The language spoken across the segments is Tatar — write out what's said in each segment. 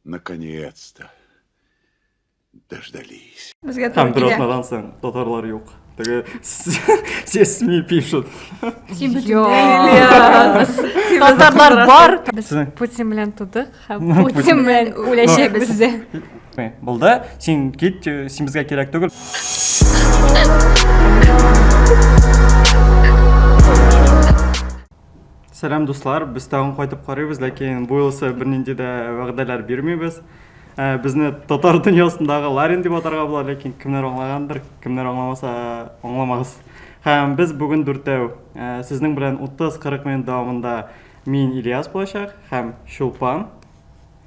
Наконец-то дождались. Там пиротнадан соң татарлар юк. Теге все СМИ пишут. Син Татарлар бар. Без Путин белән тудык, Путин белән үләчәкбез. Булды, син кит, э, син безгә кирәк түгел. Сәлам дуслар, без тагын кайтып карыйбыз, ләкин бу елсы бернинди дә вәгъдәләр бирмибез. Ә, безне татар дөньясындагы Ларин дип атарга була, ләкин кемнәр аңлагандыр, кемнәр аңламаса, аңламагыз. Һәм без бүген дүртәү, ә, сезнең белән 30-40 минут дәвамында мин Ильяс булачак һәм Чулпан.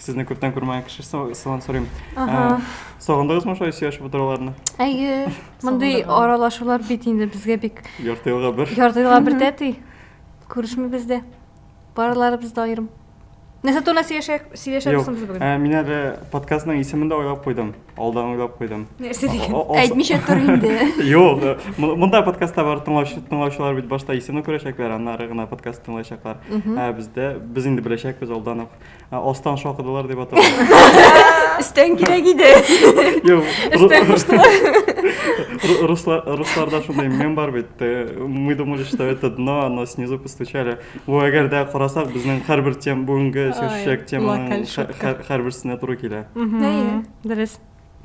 Сезне күптән күрмәгән кеше сылан сорыйм. Сагындыгызмы шулай сөйләшеп утыруларны? Әйе. Мондый аралашулар бит инде безгә бик ярты елга бер. Ярты елга бер тәти. Күрешмибез дә. Барыларыбыз да аерым. Нәрсә турында сөйләшәбез соң без бүген? Юк, мин әле подкастның исемен дә уйлап куйдым. Алдан уйлап куйдым. Нәрсә дигән? Әйтмичә тор инде. Юк, монда подкастта бар тыңлаучылар бит башта исемне күрәчәкләр, аннары гына подкаст тыңлаячаклар. Ә бездә без инде беләчәкбез алдан ук. Ә, Астан шакыдылар дип атала. Өстән кирәк иде. Юк, Өстән куштылар. ру- руслар- русларда шундый мем бар бит. э, Мы думали, что это дно, но снизу постучали. Бу әгәр дә карасак, безнең һәрбер тем бүгенге сөйләшәчәк теманың локаль һә- шутка. һә- һәрберсенә туры килә. Әйе. Дөрес.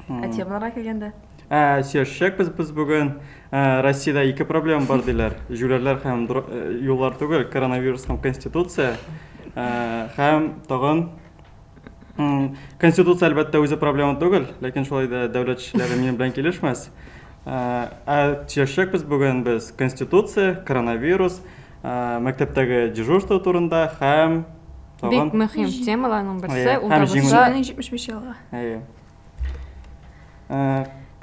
Ә темаларга килгәндә? Ә, сөйләшәчәк без без бүген. Ә, Россиядә ике проблема бар диләр. Җүләрләр һәм дро- э, юллар түгел, коронавирус һәм конституция. Ә, һәм тагын м, конституция әлбәттә үзе проблема түгел, ләкин шулай да дәүләт эшчеләре минем белән килешмәс. Ә, ә сөйләшәчәк без бүген без конституция, коронавирус Мәктәптәге дежурство турында һәм тагын Бик мөһим темаларның берсе ул да булса 75 елга. Әйе.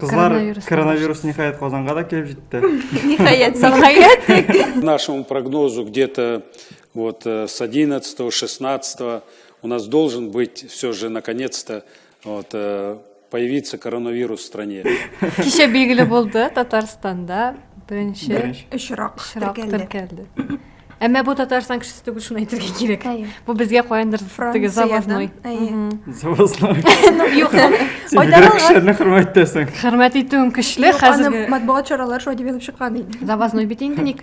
Кызлар коронавирус ниһаять Казанга да килеп җитте. Ниһаять, сәламәт. Нашему прогнозу где-то вот э, с 11 16 у нас должен быть все же наконец-то Вот, э, появится коронавирус в стране. Кичә билгеле булды Татарстанда беренче Беренче. Очрак. очрак теркәлде. теркәлде. Әмма бу Татарстан кешесе түгел, шуны әйтергә кирәк. Әйе. Бу безгә каяндыр теге Франциядән, завозной. әйе. Мгм. Завозной. Ну, юк. Син Айдар бигрәк алган. кешеләрне хөрмәт итәсең. Хөрмәт итүем көчле Юк, аны хәзерге. матбугат чаралары шулай дип язып чыккан иде. Завозной бит инде ник.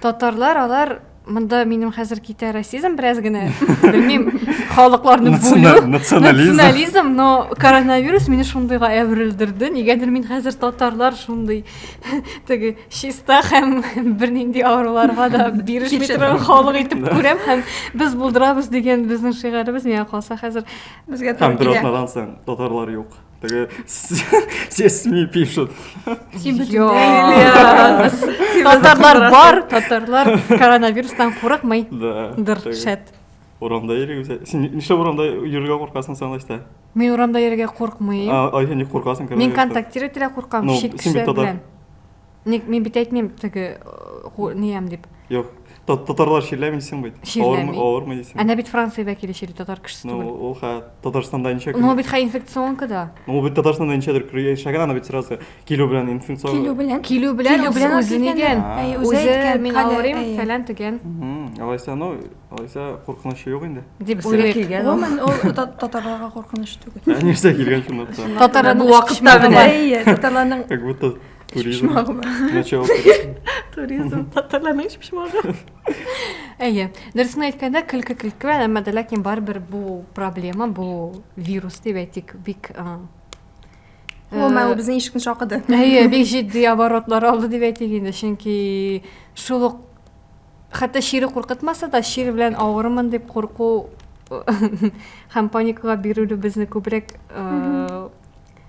Татарлар алар монда минем хәзер китә расизм бераз генә белмим халыкларны бүлү национализм но коронавирус мине шундыйга әверелдерде нигәдер мин хәзер татарлар шундый теге чиста һәм бернинди авыруларга да бирешми торган халык итеп күрәм һәм без булдырабыз дигән безнең шигаребез миңа калса хәзер безгә туры килә һәм бер атнадан соң татарлар юк Теге все СМИ пишут. Син бөтенләй. Татарлар бар, татарлар коронавирустан курыкмый. Да. Дыр, шәт. Урамда йөрегез. Син нишләп урамда йөрергә куркасың сән лайста? Мин урамда йөрергә куркмыйм. А, ай, син куркасың коронавирустан. Мин контактировать итә куркам, шик кешеләр белән. Ник мин бит әйтмим теге ниям дип. Юк, татарлар чирләми дисең бит. Чирләми. Авырмы дисең? Әнә бит Франция вәкиле чирли, татар кешесе түгел. Ну, ул ха Татарстанда ничә көн? Ну, бит ха инфекционка да. Ну, бит Татарстанда ничәдер көр яшәгән, ана бит сразу килү белән инфекцион. Килү белән. Килү белән үзе үзе нигән? Үзе мин авырым, фәлән тегән. Алайса, ну, алайса куркыныч юк инде. Дип үзе килгән. Гомумән, ул татарларга куркыныч түгел. Нәрсә килгән шунда? Татарларның вакытта белән. Татарларның Туризм. Начало туризм. Туризм. Татарларның эш пешмагы. Әйе. Дөресен әйткәндә, көлке көлке, әмма дә ләкин барыбер бу проблема, бу вирус дип әйтик, бик Гомумән, ул безнең ишекне шакыды. Әйе, бик җитди оборотлар алды дип әйтик инде, чөнки шул ук хәтта чире куркытмаса да, чир белән авырмын дип курку һәм паникага бирелү безне күбрәк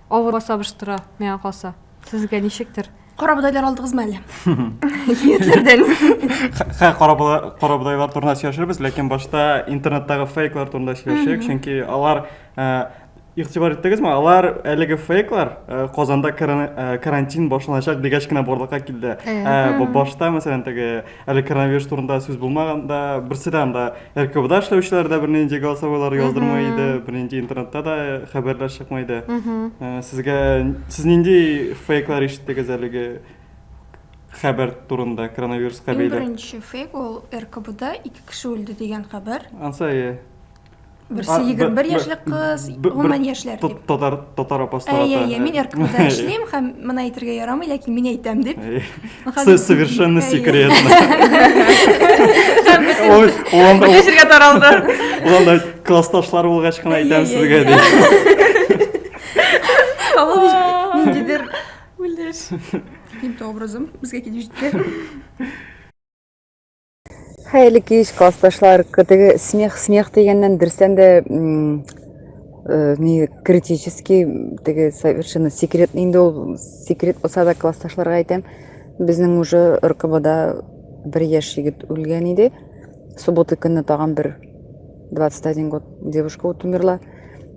Авырга сабыштыра, миңа калса. Сезгә ничектер? Карабудайлар алдыгызмы әле? Нияттерден. Хә, карабудайлар турында сөйләшербез, ләкин башта интернеттагы фейклар турында сөйләшик, чөнки алар игътибар иттегезме, алар әлеге фейклар Казанда карантин башланачак дигәч кенә барлыкка килде. Башта мәсәлән теге Әле коронавирус турында сүз булмаганда, берсе дә анда РКБда эшләүчеләр дә бернинди голосовойлар яздырмый иде, бернинди интернетта да хәбәрләр чыкмый иде. Э, Сезгә сез нинди фейклар ишеттегез әлеге хәбәр турында коронавируска Иң бәйле? беренче фейк ул РКБда ике кеше үлде дигән хәбәр. Ансай, Берсе 21 яшьлек кыз, гомумән яшьләр дип. Татар татар апастары. Әйе, әйе, мин РКБда эшлим һәм моны әйтергә ярамый, ләкин мин әйтәм дип. Сез совершенно секретно. Ой, уланда ул җиргә таралды. Уланда классташлар булгач кына әйтәм сезгә дип. Ниндидер үлеш. Ким образым безгә килеп җитте. Хәерле кич, классташлар. Теге смех, смех дигәннән берсән дә э, ни критический, теге совершенно секретный инде ул секрет булса да классташларга әйтәм. Безнең уже РКБда бер яшь егет үлгән иде. Суббота көнне тагын бер 21 год девушка вот умерла.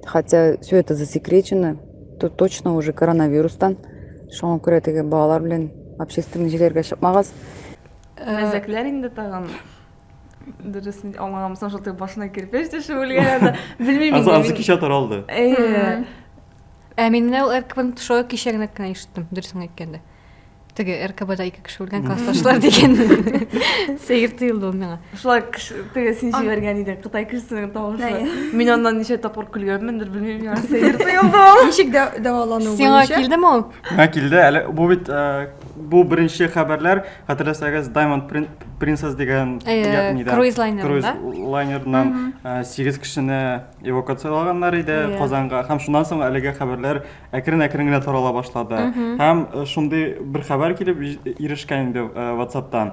Хотя все это засекречено. Тут точно уже коронавирустан. Шуңа күрә теге балалар белән общественный җирләргә чыкмагыз. Мәзәкләр инде тагын дөресен аңлаганмысың шул башына кирпеч төшеп үлгән анда белмим инде азы кичә таралды әйе ә мин менә ул ркбның тошуы кичә генә кенә ишеттем дөресен әйткәндә теге ркбда ике кеше үлгән классташлар деген сәер тоелды ул миңа шулай теге син җибәргән идең кытай кешесенең тавышы мин аннан ничә тапкыр көлгәнмендер белмим миңа сәер тоелды ул ничек дәвалану буенча сиңа килдеме ул Мә килде. Әле бу бит э, бу беренче хәбәрләр, хәтерләсәгез, Diamond Prin- Princess дигән Э, ягъни да, круиз лайнерында. круиз лайнерыннан э, сигез кешене эвакуациялаганнар иде Иә. Казанга. Һәм шуннан соң әлеге хәбәрләр әкрен-әкрен генә тарала башлады. Һәм э, шундый бер хәбәр килеп җи- ирешкән инде э, WhatsApp-тан.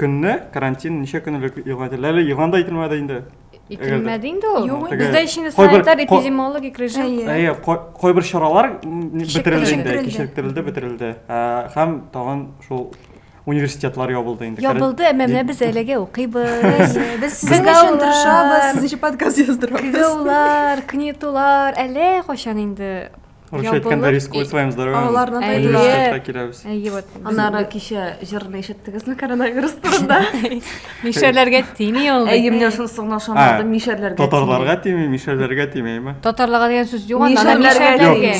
Көнне карантин ничә көн элек игълан ителде? Әле игълан да ителмәде инде. Ителмәде инде ул. Юк, Теге- Бездә ичен кайбер- санитар ко- эпидемиологик режим. Әйе. Әйе, кай- кайбер чаралар м, бетерелде инде, Кичектерелде. кичектерелде, бетерелде. Ә, Һәм тагын шул университетлар ябылды инде. Ябылды, әмма менә без әлегә укыйбыз. Әйе, Без сезнең Кызлар. өчен тырышабыз, сезнең өчен подкаст яздырабыз. Кызулар, кнетулар, әллә кайчан инде Короче әйткәндә рискуй своим здоровьем. Аларны да университетка киләбез. Әйе, вот. Аннары кичә җырны ишеттегезме коронавирус турында? Мишәрләргә тими ул. Әйе, менә шунысы гына ошамадым, мишәрләргә. Татарларга тими, мишәрләргә тимейме? Татарларга дигән сүз юк анда, мишәрләргә.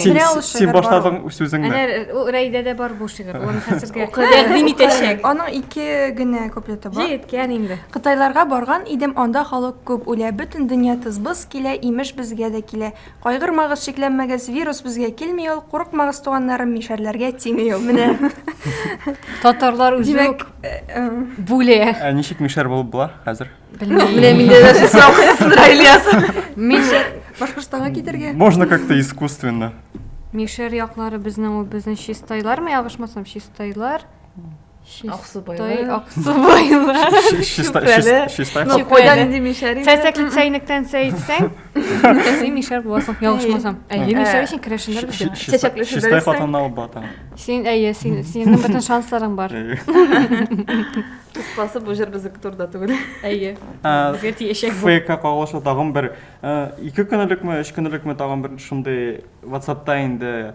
Син башладың сүзеңне. Әнә ул Рәйдәдә бар бу шигырь. Ул хәзергә тәкъдим итәчәк. Аның ике генә куплеты бар. Җиткән инде. Кытайларга барган идем, анда халык күп үлә, бөтен дөнья тыз-быз килә, имеш безгә дә килә. Кайгырмагыз, шикләнмәгез, вирус безгә килми ул, курыкмагыз, туганнарым, мишәрләргә тими ул. Менә. Татарлар үзе Димәк, үк э, э, бүле. Ә ничек мишәр булып була хәзер? Белмим. Менә миндә дә шул сорау куясындыр, Ильяс. Мишәр, Башкортстанга китәргә. Можно как-то искусственно. мишәр яклары безнең ул безнең чистайлармы, ябышмасам, чистайлар. Аксубайлар. Аксубайлар. Чүпрәле. Ну, кайда нинди мишәр инде? Сәсәкле чәйнектән сәй итсәң, син мишәр буласың, ялгышмасам. Әйе, мишәр өчен керәшеннәр бит. Чәчәкле шәбәләр. Чистай хатынна алып бата. Син әйе, син синең бөтен шансларың бар. Кыскасы бу җыр безнеке турында түгел. Әйе. Безгә тиешәк бу. ФК кагылышы тагын бер 2 көнлекме, 3 көнлекме тагын бер шундый WhatsApp-та инде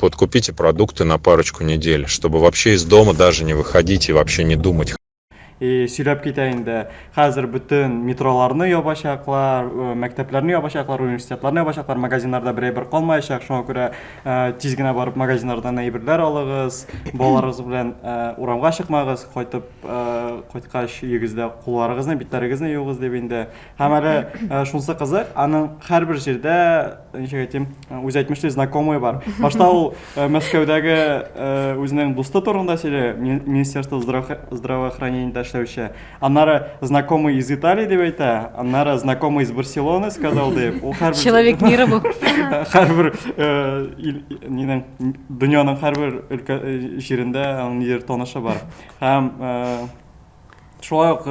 Вот купите продукты на парочку недель, чтобы вообще из дома даже не выходить и вообще не думать. И сөйләп китә инде. Хәзер бөтен метроларны ябачаклар, э, мәктәпләрне ябачаклар, университетларны ябачаклар, магазиннарда бер әйбер калмаячак. Шуңа күрә э, тиз генә барып магазиннардан әйберләр алыгыз. Балаларыгыз белән э, урамга чыкмагыз, кайтып кайткач өегездә кулларыгызны, битләрегезне юыгыз дип инде. Һәм әле э, шунысы кызык, аның һәрбер җирдә, ничек әйтим, э, үзе әйтмешли, знакомый бар. Башта ул э, Мәскәүдәге үзенең дусты турында сөйли, Министерство здравоохранениедә эшләүче. Аннары знакомый из Италии дип әйтә, аннары знакомый из Барселоны сказал дип. Ул һәрбер Человек мира бу. Һәрбер нинең дөньяның һәрбер өлкә җирендә аның нидер танышы бар. Һәм Шулай ук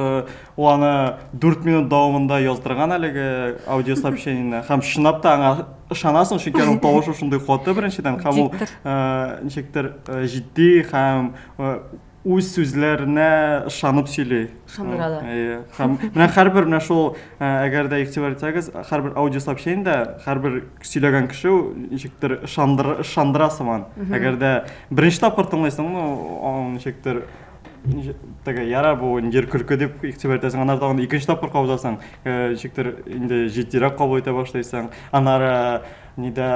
ул аны 4 минут дәвамында яздырган әлеге аудиосообщениене. Һәм чынлап та аңа ышанасың, чөнки аның тавышы шундый каты беренчедән, һәм ул ничектер җитди һәм үз сүзләренә ышанып сөйли. Ышандыра да. Әйе. Һәм менә һәрбер менә шул, әгәр дә игътибар итсәгез, һәрбер аудиосообщениедә һәрбер сөйләгән кеше ничектер ышандыра сыман. Әгәр дә беренче тапкыр тыңлыйсыңмы, ничектер Теге яра бу җир көлке дип игътибар итәсең, аннары тагын икенче тапкыр кабызасың. Э, ничектер инде җитдирәк кабул итә башлыйсың. Аннары нидә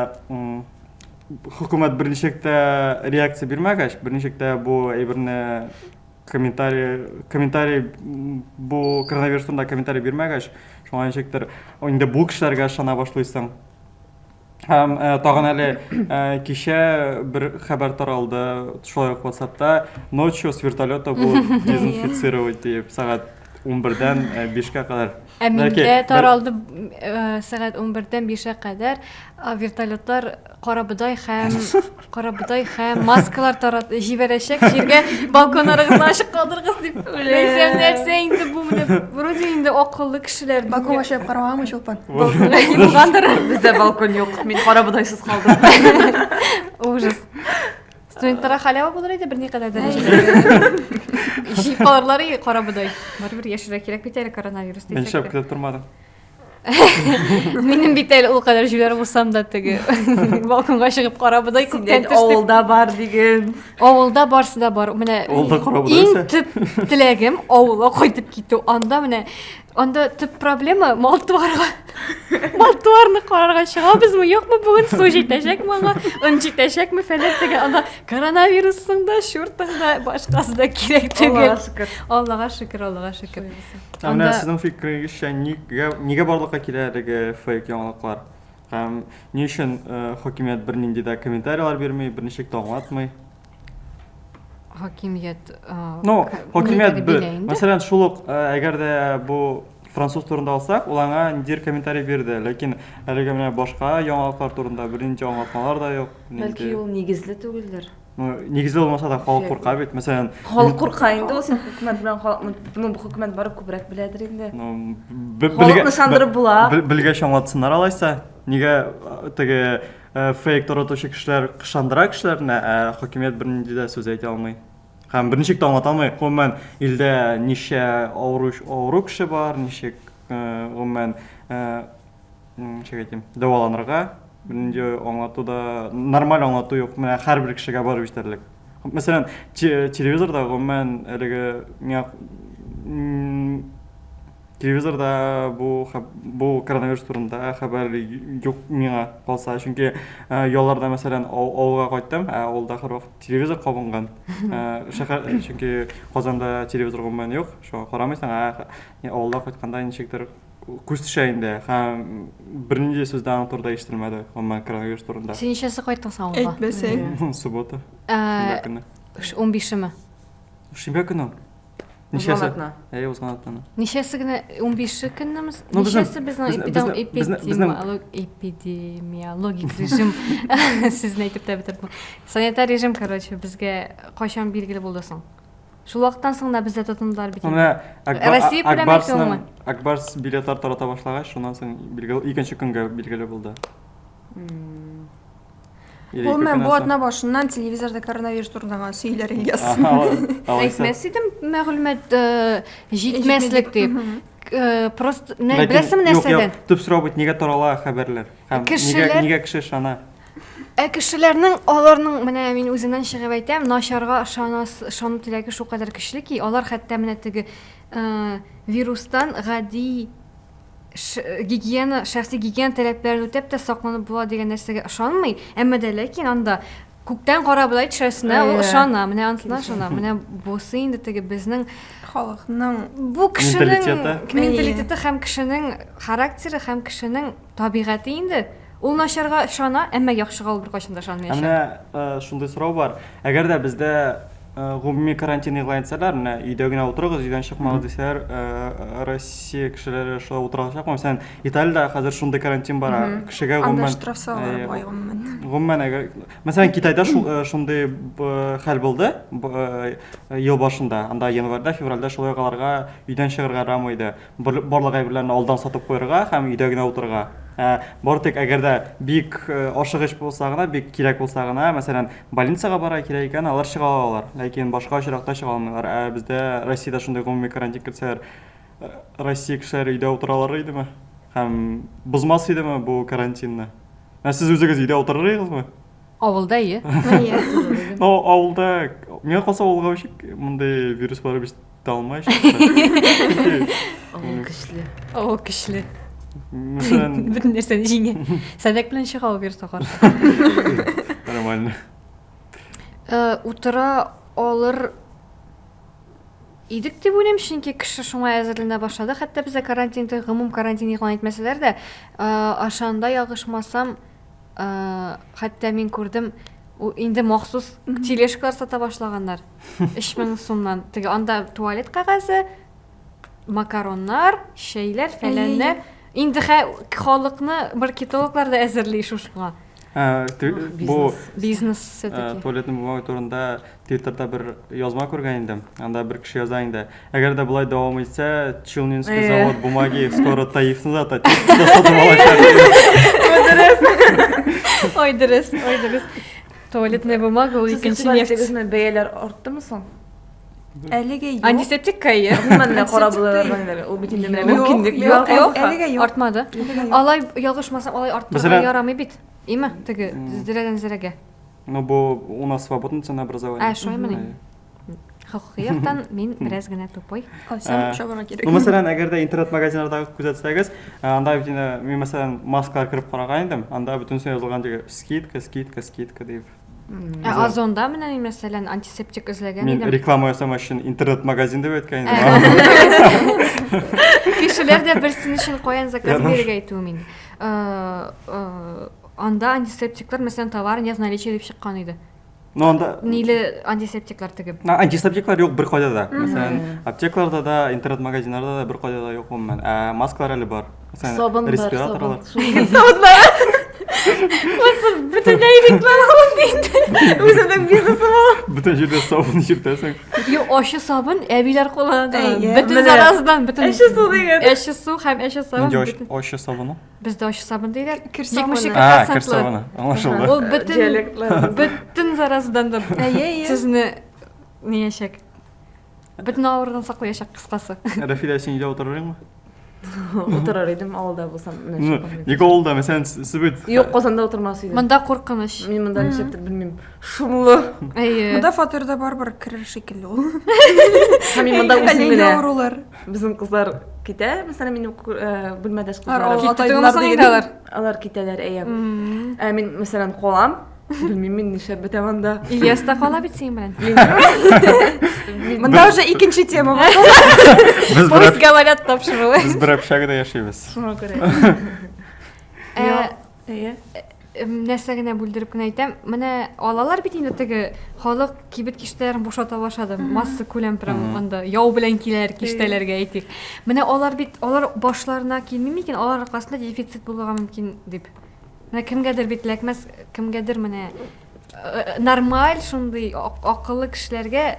хөкүмәт берничек тә реакция бирмәгәч, берничек тә бу әйберне комментарий комментарий бу коронавирус турында комментарий бирмәгәч, шуңа ничектер инде бу кешеләргә ышана башлыйсың. Һәм э, тагын әле э, кичә бер хәбәр таралды шулай ук WhatsAppта ночью с вертолета будут дезинфицировать диеп сәгать 11-дән 5-кә кадәр. Ә миндә таралды э, сәгать 11-дән 5-кә кадәр вертолетлар Карабодай һәм карабодай һәм маскалар тарат җибәрәчәк җиргә балконнарыгызны ачык калдырыгыз дип беләсәм нәрсә инде бу менә вроде инде акыллы кешеләр балкон ачып карамаган чулпан булгандыр бездә балкон юк мин карабодайсыз калдым ужас студентларга халява булыр иде берникадәр дәрәҗәдә җыеп калырлар и карабодай барыбер яшәргә кирәк бит әле коронавирус дисәк тә мин шәп көтеп тормадым Минем бит әле ул кадәр җүләр булсам да теге балконга чыгып карабыдай күптән төштек. Авылда бар диген. Авылда барсы да бар. Менә Авылда карабыдай. Иң төп теләгем авылга кайтып китү. Анда менә анда төп проблема мал туарга. Мал туарны карарга чыгабызмы, юкмы бүген су җитәчәкме аңа, ын җитәчәкме фәлән теге анда коронавирусың да, чуртың да, башкасы да кирәк түгел. Аллага шөкер. Аллага шөкер, Аллага шөкер. Ә менә сезнең фикерегезчә, нигә, нигә барлыкка килә әлеге фейк яңалыклар? Һәм ни өчен э, хакимият бернинди дә комментарияләр бирми, берничек тә аңлатмый? Хакимият... Э, ну, хакимият бер. Мәсәлән, шул ук, э, әгәр дә бу француз турында алсак, ул аңа ниндидер комментарий бирде, ләкин әлеге менә башка яңалыклар турында бернинди аңлатмалар да юк. Бәлки ул нигезле түгелдер? Ну, нигездә булмаса да халык курка бит. Мәсәлән, халык курка инде ул син хөкүмәт белән халыкны, ну, бу хөкүмәт бары күбрәк беләдер инде. Ну, халыкны шандырып була. Белгә чаңлатсыннар алайса. Нигә э, теге э, фейк торатучы кешеләр кышандыра кешеләрне, ә хөкүмәт бернинди дә сүз әйтә алмый. Һәм берничек тә аңлата алмый. Гомумән, илдә ничә авыру, авыру кеше бар, ничек э, гомумән ничек әйтим, дәваланырга, бернинди аңлату да, нормаль аңлату юк, менә һәрбер кешегә барып җитәрлек. Мәсәлән, телевизорда гомумән әлеге миңа телевизорда бу бу коронавирус турында хәбәр юк миңа калса, чөнки ялларда мәсәлән авылга кайттым, ә авылда һәрвакыт телевизор кабынган. Шәһәр чөнки Казанда телевизор гомумән юк, шуңа карамыйсың, ә авылда кайтканда ничектер Күз төшә инде. Һәм бернинди сүз дә аның турында ишетелмәде, гомумән коронавирус турында. Син ничәсе кайттың соң авылга? Әйтмәсәң. Суббота. Шимбә көне. 15-шеме? Шимбә көне. Узган атна. Әйе, узган атна. Ничәсе генә 15-ше көннеме? Ничәсе безнең эпидемиологик режим? Сезне әйтеп тә бетердем. Санитар режим, короче, безгә кайчан билгеле булды соң? Шул вакыттан соң да бездә тотындылар бит инде. Россия күләме икәнме? Акбарс билетлар тарата башлагач, шуннан соң билгеле икенче көнгә билгеле булды. Гомумән, бу атна башыннан телевизорда коронавирус турында гына сөйләр Ильяс. Әйтмәс идем, мәгълүмат э, җитмәслек дип. Э, просто беләсең нәрсәдән? Төп сорау бит, нигә тарала хәбәрләр? Һәм нигә кеше ышана? Ә кешеләрнең, аларның, менә мин үземнән чыгып әйтәм, начарга ышанас, ышану теләге шулкадәр көчле ки, алар хәтта менә теге э, вирустан гади ш- гигиена, шәхси гигиена таләпләрен үтәп тә сакланып була дигән нәрсәгә ышанмый, әмма дә ләкин анда күктән кара болай төшәсенә ул Әйе. ышана, менә анысына ышана, менә бусы инде теге безнең Халыкның бу кешенең Менталитеты. менталитеты һәм кешенең характеры һәм кешенең Табигате инде. Ул начарга ышана, әмма яхшыга ул беркайчан да ышанмыячак. Ә менә шундый сорау бар. Әгәр дә бездә гомуми карантин игълан итсәләр, менә өйдә генә утырыгыз, өйдән чыкмагыз дисәләр, Россия кешеләре шулай утыра алачакмы? Мәсәлән, Италиядә хәзер шундый карантин бара. Кешегә гомумән Анда штраф салалар бай гомумән. Гомумән әгәр Мәсәлән, Китайда шундый хәл булды ел башында. Анда январьда, февральдә шулай ук аларга өйдән чыгарга ярамый иде. Бер, барлык әйберләрне алдан сатып куярга һәм өйдә генә утырырга. Ә, бары тик әгәр дә бик э, ашыгыч булса гына, бик кирәк булса гына, мәсәлән, больницага бара кирәк икән, алар чыга алалар. Ләкин башка очракта чыга алмыйлар. Ә бездә Россиядә шундый гомуми карантин кертсәләр, э, Россия кешеләре өйдә утыралар идеме? Һәм бозмас идеме бу карантинны? Ә сез үзегез өйдә утырыр идегезме? Авылда, е? Әйе. О, авылда, миңа калса авылга үчек мондый вирус барып ис- Талмай чыкты. Ул көчле. Ул көчле. Бөтен нәрсәне җиңә. Сәдәк белән чыга ул бирсә Нормально. Э, утыра алыр идек дип уйлыйм чөнки кеше шуңа әзерләнә башлады хәтта бездә карантин гомум карантин игълан итмәсәләр дә ашанда ягышмасам хәтта мин күрдем инде махсус тележкалар сата башлаганнар Өч мең сумнан. Теге анда туалет кәгазе, макароннар, чәйләр, фәләннәр. Инде хә халыкны маркетологлар да әзерли шушыңа. Ә, бу бизнес все-таки. Туалетный бумага турында Твиттерда бер язма күргән идем. Анда бер кеше яза инде. Әгәр дә болай дәвам итсә, Челнинский завод бумаги скоро Таифны да та сатып алачак. Ой, дөрес. Ой, дөрес. Ой, дөрес. Туалетная бумага ул икенче нефть. Сез сезне бәяләр арттымы соң? Әлеге юк. Антисептик кайы. Менә карап булырга ул бит инде менә мөмкинлек юк. Әлеге юк. Артмады. Алай ялгышмасам, алай арттырырга ярамый бит. Име, теге зирәдән зирәгә. Ну бу у нас свободный ценообразование. Ә, шулаймыни? Хокукый яктан мин бераз генә тупой. Кайсам чабарга кирәк. Ну, мәсәлән, әгәр дә интернет-магазиннардагы күзәтсәгез, анда бит инде мин мәсәлән маскалар кереп караган идем, анда бөтенесе язылган диге скидка, скидка, скидка дип. Ә Озонда менә мин мәсәлән антисептик эзләгән идем. Мин реклама ясамас өчен интернет-магазин дип әйткән идем. Кешеләр дә берсен өчен каян заказ бирергә әйтүем инде. Анда антисептиклар мәсәлән товар не в наличии дип чыккан иде. Ну, анда... Ниле антисептиклар тегеп? А, антисептиклар юк бер кайда да. Мәсәлән, аптекаларда да, интернет-магазиннарда да бер кайда да юк гомумән. Ә маскалар әле бар. Мәсәлән, сабын бар, респираторлар. Сабын бар. Просто бөтенләй реклама бит. Үземнең бизнесым ул. Бөтен җирдә сабын җиртәсең. Юк, ачы сабын әбиләр куллана. Бөтен зараздан, бөтен. Әче су дигән. Әче су һәм әче сабын. Нинди ачы сабыны? Бездә ачы сабын диләр. Кер сабыны. Ничек А, кер процентлы? сабыны. Аңлашылды. Ул бөтен Диалектлар. бөтен заразадан да Әйе, әйе. сезне ниячәк. Бөтен авырудан саклаячак кыскасы. Рәфилә, син өйдә утырыр идеңме? Утырыр идем авылда булсам. менә Ну, шундый. Ник авылда, мәсәлән, С- Себет. Юк, Казанда утырмас идем. Монда куркыныч. Мин монда ничектер белмим. Шумлы. Әйе. Монда фатирда барыбер керер шикелле ул. Һәм мин монда үзем Әллә генә. авырулар. Безнең кызлар китә, мәсәлән, минем бүлмәдәш кызлар. Киттеләр дигәннәр. Алар китәләр, әйе. Ә мин, мәсәлән, калам. Белмим мин нишләп бетәм анда. Ильяс та кала бит синең белән. Монда уже икенче тема бар. Без говорят тапшыруы. Без бер общагада яшибез. Шуңа күрә. Әйе. Нәрсә генә бүлдереп кенә әйтәм, менә алалар бит инде теге халык кибет киштәләрен бушата башлады. Масса күләм прям анда яу белән киләр киштәләргә әйтик. Менә алар бит алар башларына килми микән? Алар аркасында дефицит булырга мөмкин дип. Менә кемгәдер бит ләкмәс, кемгәдер менә Нормаль шундый акыллы кешеләргә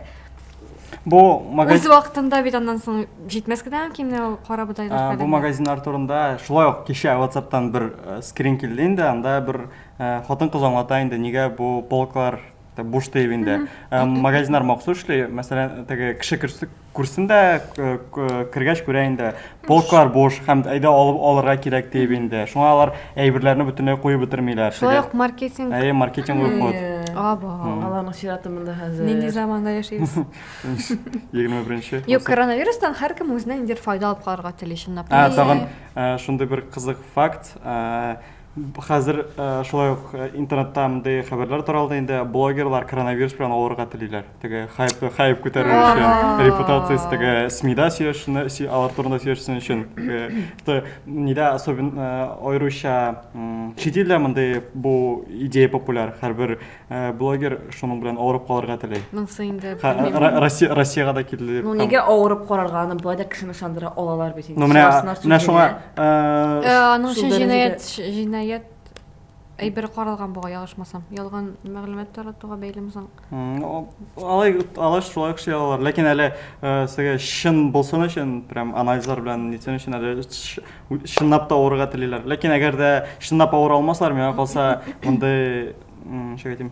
Бу магазин үз вакытында бит аннан соң җитмәс кенә мөмкин ул кара бодайлар фәлән. Бу магазиннар турында шулай ук кичә WhatsApp'тан бер скрин килде инде, анда бер хатын-кыз аңлата инде, нигә бу полклар буш дип инде. Магазиннар махсус эшли, мәсәлән, теге кеше Күрсен дә, кергәч күрә инде, полклар буш, һәм әйдә алып алырга кирәк диеп инде. Шуңа алар әйберләрне бөтенләй куеп бетермиләр. Шулай ук маркетинг. Әйе, маркетинг ук ход. Аба. Аларның чираты монда хәзер. Нинди заманда яшибез? 21-нче. Юк, коронавирустан һәркем үзенә ниндидер файда алып калырга тели чынлап. Ә, тагын шундый бер кызык факт. Хәзер шулай ук интернетта мондый хәбәрләр таралды инде, блогерлар коронавирус белән авырырга телиләр. теге хайп хайп күтәрер өчен репутациясе теге смида сөйләшүне алар турында сөйләшсен өчен то нидә особенно аеруча чит илдә мондый бу идея популяр һәрбер блогер шуның белән авырып калырга тели монысы инде россияга да килде ну нигә авырып карарга аны болай да кешене ышандыра алалар бит инде менә шуңа аның өчен җинаять җинаять Әйбер каралган буга ялгышмасам. Ялган мәгълүмат таратуга бәйлеме соң? Алай алай шулай эшли алалар. Ләкин әле э, сезгә чын булсын өчен, прям анализлар белән нитсен өчен әле чынлап та авырырга телиләр. Ләкин әгәр дә чынлап авыра алмаслар, миңа калса, мондый, ничек әйтим,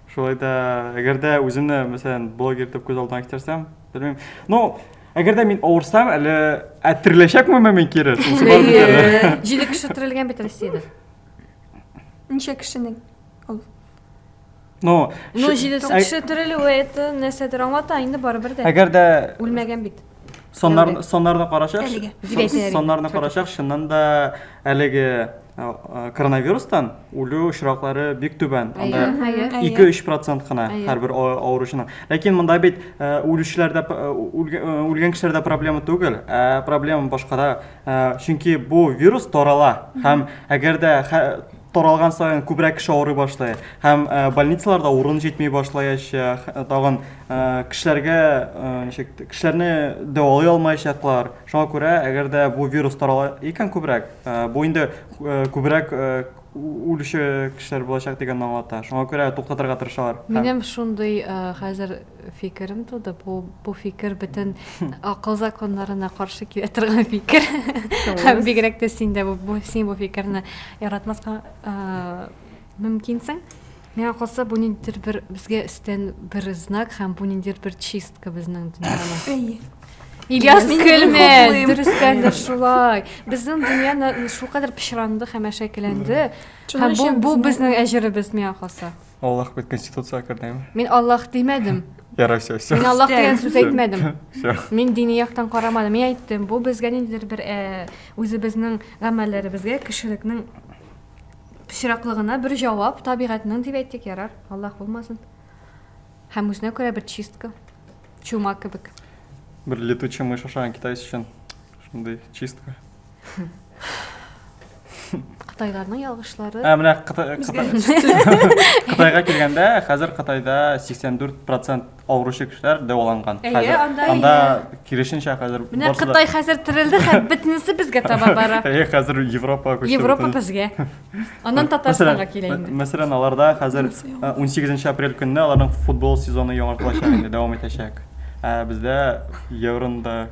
Шулай да, әгәр дә үземне, мәсәлән, блогер итеп күз алдына китерсәм, белмим. Ну, әгәр дә мин авырсам, әле ә тереләчәкменме мин кире? Шунысы бар бит әле. Җиде кеше терелгән бит Россиядә. Ничә кешенең? Ул. Ну, Ну, шы- җиде кеше терелүе это нәрсәдер аңлата инде барыбер дә. әгәр дә Үлмәгән бит. Соннар, Тәүлек. соннарны карачак. Әлеге. сон- Бигәйтә әлеге. Соннарны карачак, чыннан да әлеге а, а, коронавирустан үлү очраклары бик түбән. Анда Әйе, әйе. Әйе. 2-3 процент кына Әйе. һәрбер а- авыручының. Ләкин монда бит ә, үлүчеләрдә п- ә, үлгә- ә, үлгән кешеләрдә проблема түгел, ә проблема башкада. Ә, Чөнки бу вирус тарала һәм әгәр дә хә- таралган саен күбрәк кеше авырый башлый һәм больницаларда урын җитми башлаячак, тагын кешеләргә ничек кешеләрне дәвалый алмаячаклар. Шуңа күрә, әгәр дә бу вирус тарала икән күбрәк, бу инде күбрәк үлүче кешеләр булачак дигәнне аңлата. Шуңа күрә туктатырга тырышалар. Минем шундый хәзер фикерем туды. Бу бу фикер бөтен акыл законнарына каршы килә торган фикер. Һәм бигрәк тә син дә бу син бу фикерне яратмаска мөмкинсең. Миңа калса, бу ниндидер бер безгә өстән бер знак һәм бу ниндидер бер чистка безнең дөньяны. Ильяс көлмә, дөрестән дә шулай. Безнең дөньяны шулкадәр пычранды һәм әшәкеләнде. Һәм бу бу безнең әҗеребез миңа калса. Аллах бит конституцияга кердеме? Мин Аллах димәдем. Ярай, все, все. Мин Аллах дигән сүз әйтмәдем. Все. Мин дини яктан карамадым. Мин әйттем, бу безгә ниндидер бер э, үзебезнең гамәлләребезгә, кешелекнең пычраклыгына бер җавап, табигатьнең дип әйттек, ярар, Аллах булмасын. Һәм үзенә күрә бер чистка, чума кебек. Бер летучий мышь ашаган китайцы өчен шундый чистка. Кытайларның ялгышлары. Ә менә Кытайга килгәндә, хәзер Кытайда 84% авыручы кешеләр дәваланган. Әйе, анда анда киресенчә хәзер Менә Кытай хәзер терелде һәм бөтенесе безгә таба бара. Әйе, хәзер Европа күчте. Европа безгә. Аннан Татарстанга килә инде. Мәсәлән, аларда хәзер 18 апрель көнне аларның футбол сезоны яңартылачак инде, дәвам итәчәк. Ә бездә евронда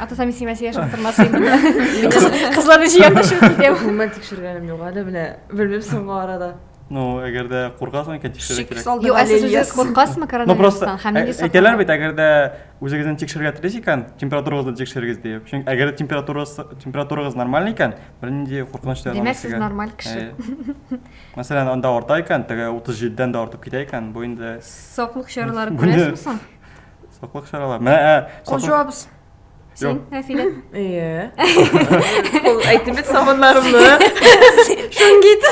атасам мин сиңа сөйләшеп тормас идем кызларны җыям да чыгып китәм гомумән тикшергәнем юк әле менә белмим соңгы арада ну әгәр дә куркасың икән тикшерергә кирәк юк ә сез үзегез куркасызмы коронавирустан һәм ниндәй саклану әйтәләр бит әгәр дә үзегезне тикшерергә телисез икән температурагызны тикшерегез диеп чөнки әгәр дә температурагыз нормаль икән бернинди куркыныч та димәк сез нормаль кеше мәсәлән анда арта икән теге утыз җидедән дә артып китә икән бу инде саклык чаралары күрәсезме соң Саклык чаралары. Мә, ә, Ул саклык- җавабыз. Син, Юк. Нәфилә. Иә. Ул әйтеп бит сабыннарымны. Шунгит.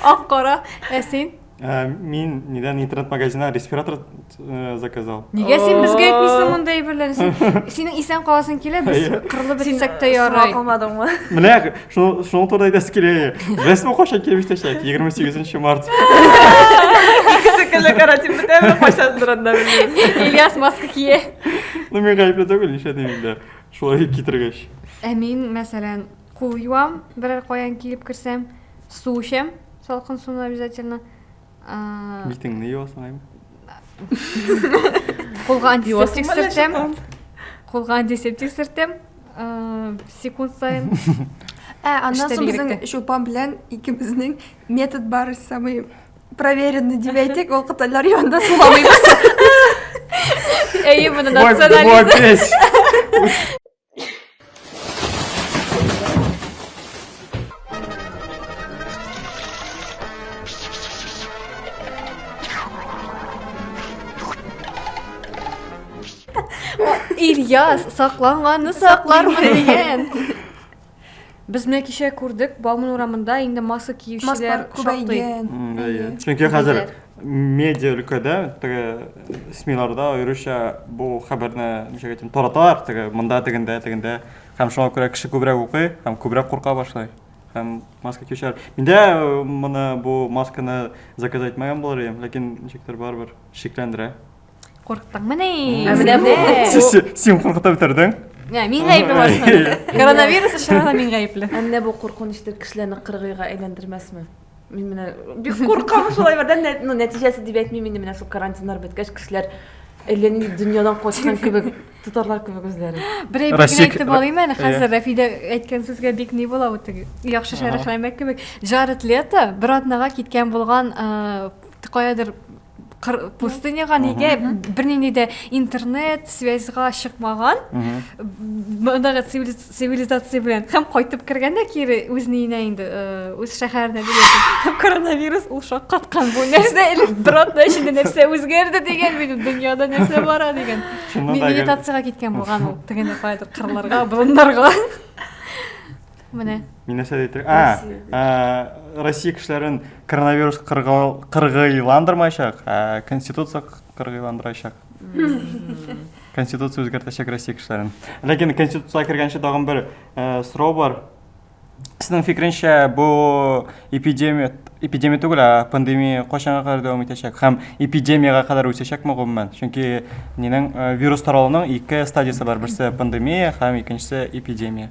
Ак кара. Ә син? Ә, мин недавно интернет-магазиннан респиратор э, заказал. Нигә син безгә әйтмисең мондый әйберләрне? Син- Синең исән каласың килә, без Әйе. кырылып бетсәк тә ярый. Сиңа калмадыңмы? Менә шуңа турыда әйтәсе килә рәсми кайчан килеп иштәчәк егерме сигезенче март икесе көнле карантин бетәме кайчан турында белмим ильяс маска кие ну мин гаепле түгел нишләтим инде шулай китергәч ә мин мәсәлән кул юам берәр каян килеп керсәм су эчәм салкын суны обязательно Битеңне юасың ай. Кулга антисептик сөртәм. Кулга антисептик сөртәм. Секунд сайын. Ә, аннан соң безнең чупан белән икебезнең метод бар, самый проверенный дип әйтик, ул кытайлар янында суламыйбыз. Әйе, моны национализм. Ильяс, сакланганны саклармын дигән. Без менә кичә күрдек, Бауман урамында инде маска киючеләр шактый. Чөнки хәзер медиа өлкәдә, теге СМИларда аеруча бу хәбәрне ничек әйтим, тараталар, теге монда тегендә, тегендә. Һәм шуңа күрә кеше күбрәк укый һәм күбрәк курка башлый. Һәм маска киючеләр. Миндә э, моны бу масканы заказать итмәгән булыр идем, ләкин ничектер барыбер шикләндерә. Курктыңмы ни? Ә менә бу. Син куркыта бетердең. Ә, мин гаепле барысында. Коронавирус өчен генә мин гаепле. Ә менә бу куркынычты кешеләрне кыргыйга әйләндермәсме? Мин менә бик куркам шулай бердән, ну, нәтиҗәсе дип әйтмим инде, менә шул карантиннар беткәч кешеләр әллә нинди дөньядан качкан кебек тотарлар кебек үзләрен. Бер әйбер генә әйтеп алыйм әле хәзер Рәфидә әйткән сүзгә бик ни була бу теге яхшы шәрехләмәк кебек. Джаред Лето бер атнага киткән булган каядыр пустыняга нигә бернинди дә интернет связьга чыкмаган мондагы цивилизация белән һәм кайтып кергәндә кире үз ниенә инде э, үз шәһәренә һәм коронавирус ул шаккаткан бу нәрсә элек бер атна эчендә нәрсә үзгәрде дигән минем дөньяда нәрсә бара дигән медитацияга киткән булган ул тегендә каядыр кырларга болыннарга Менә. Мин нәрсә әйтер? А, а, Россия кешеләрен коронавирус кыргыйландырмаячак, а конституция кыргыйландырачак. Конституция үзгәртәчәк Россия кешеләрен. Ләкин конституциягә кергәнче тагын бер э, сорау бар. Сезнең фикеренчә, бу эпидемия, эпидемия түгел, а пандемия кайчанга кадәр дәвам итәчәк? Һәм эпидемияга кадәр үсәчәкме гомумән? Чөнки нинең э, вирус таралуның ике стадиясе бар, берсе пандемия һәм икенчесе эпидемия.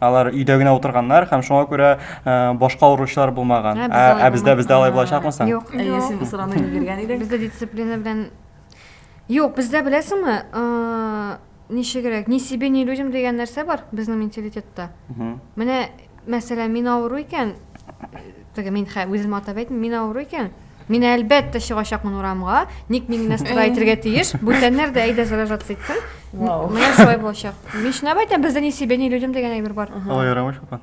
Алар өйдә генә утырганнар һәм шуңа күрә э, башка авыручылар булмаган. Ә, Ә, ә бездә бездә алай булачакмы соң? Юк, Әйе, син бу сорауны биргән идең. Бездә дисциплина белән Юк, бездә беләсеңме, э, ничегрәк, ни себе, ни людям дигән нәрсә бар безнең менталитетта. Мгм. Менә, мәсәлән, мин авыру икән, теге мин хә, үзем атап әйтмим, мин авыру икән, Мин әлбәттә чыгачакмын урамга, ник мин генә строй итергә тиеш, бүтәннәр дә әйдә заражаться итсен. Вау. Менә шулай булачак. Мин шуны әйтәм, бездә не себе, не людям дигән әйбер бар. Алай ярамый шулпан.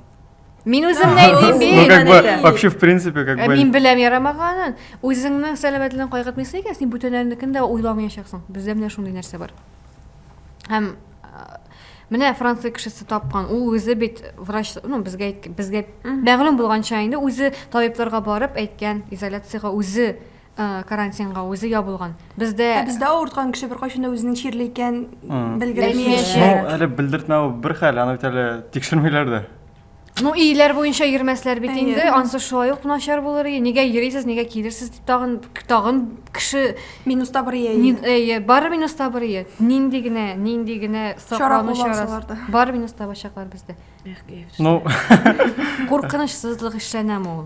Мин үзем не әйтим Ну, бит. как бы, әйтә. вообще, в принципе, как Ә бы... мин беләм ярамаганын. Үзеңнең сәламәтлегең кайгыртмыйсың икән, син бүтәннәрнекен дә уйламаячаксың. Бездә менә шундый нәрсә бар. Һәм Менә Франция кешесе тапкан. Ул үзе бит врач, ну безгә әйткән, безгә мәгълүм булганча инде үзе табибларга барып әйткән, изоляциягә үзе э, карантинга үзе ябылган. Бездә Ә бездә авырткан кеше беркайчан да үзенең чирле икән Мгм. белгермәячәк. Ну, әле белдертмәү бер хәл, аны бит әле тикшермиләр дә. Ну, иеләр буенча йөрмәсләр бит инде. Ансы шулай ук начар булыр. Нигә йөрисез, нигә килерсез дип тагын тагын кеше минуста бер ие. Әйе, бары минуста бер ие. Нинди генә, нинди генә саклану чарасы. Бар минуста бачаклар бездә. Ну, куркынычсызлык эшләнәме ул?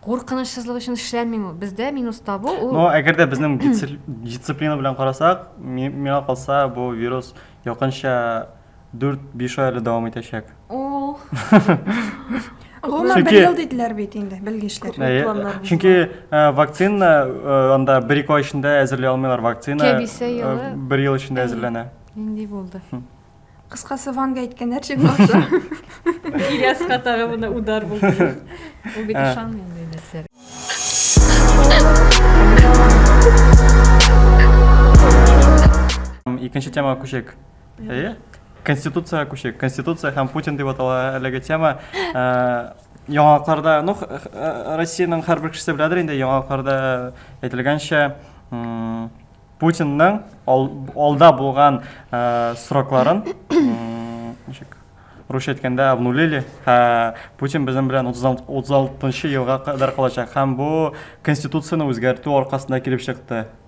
Куркынычсызлык өчен эшләнмиме? Бездә минус табу ул. Ну, әгәр дә безнең дисциплина белән карасак, миңа калса бу вирус якынча 4-5 ай әле дәвам итәчәк. Ул. Гомумән, бер ел диделәр бит инде, белгечләр. Әйе, чөнки вакцина анда бер-ике ай эчендә әзерли алмыйлар, вакцина бер ел эчендә әзерләнә. Нинди булды? Кыскасы, Ванга әйткәннәр чын булса. Ильяска тагы моны удар булды. Ул бит ышанмый инде нәрсә. Икенче темага күчик. Әйе. Конституцияга күчик. Конституция һәм Путин дип атала әлеге тема. Ә, Яңалыкларда, ну, х- х- ә, Россиянең һәрбер кешесе беләдер инде, яңалыкларда әйтелгәнчә, м, Путинның ал- алда булган ә, срокларын, м, ничек, русча әйткәндә, обнулили, һә Путин безнең белән 36 36 елга кадәр калачак. Һәм бу Конституцияне үзгәртү аркасында килеп чыкты.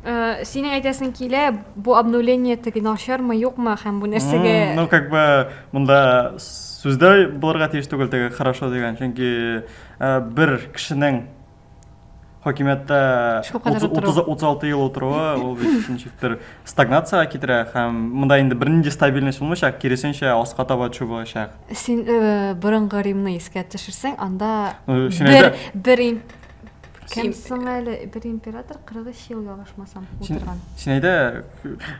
Э, синең әйтәсең килә, бу обновление теге начармы, юкмы һәм бу нәрсәгә Ну, как бы монда сүздә булырга тиеш түгел теге хорошо дигән, чөнки э, бер кешенең хакимияттә 36 ел утыруы ул бит ничектер стагнацияга китерә һәм монда инде бернинди стабильность булмыйчак, киресенчә аска таба төшү булачак. Син э, борынгы Римны искә төшерсәң, анда бер бер Кем соң әле бер император 43 ел ялгышмасам утырган. Син әйдә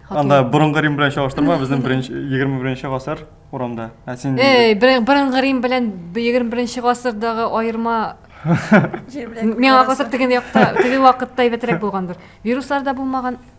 анда борынгы Рим белән чагыштырма, безнең 21-нче гасыр урамда. Ә син Эй, борынгы Рим белән 21-нче гасырдагы аерма Миңа калса теге якта, теге вакытта әйбәтрәк булгандыр. Вируслар да булмаган,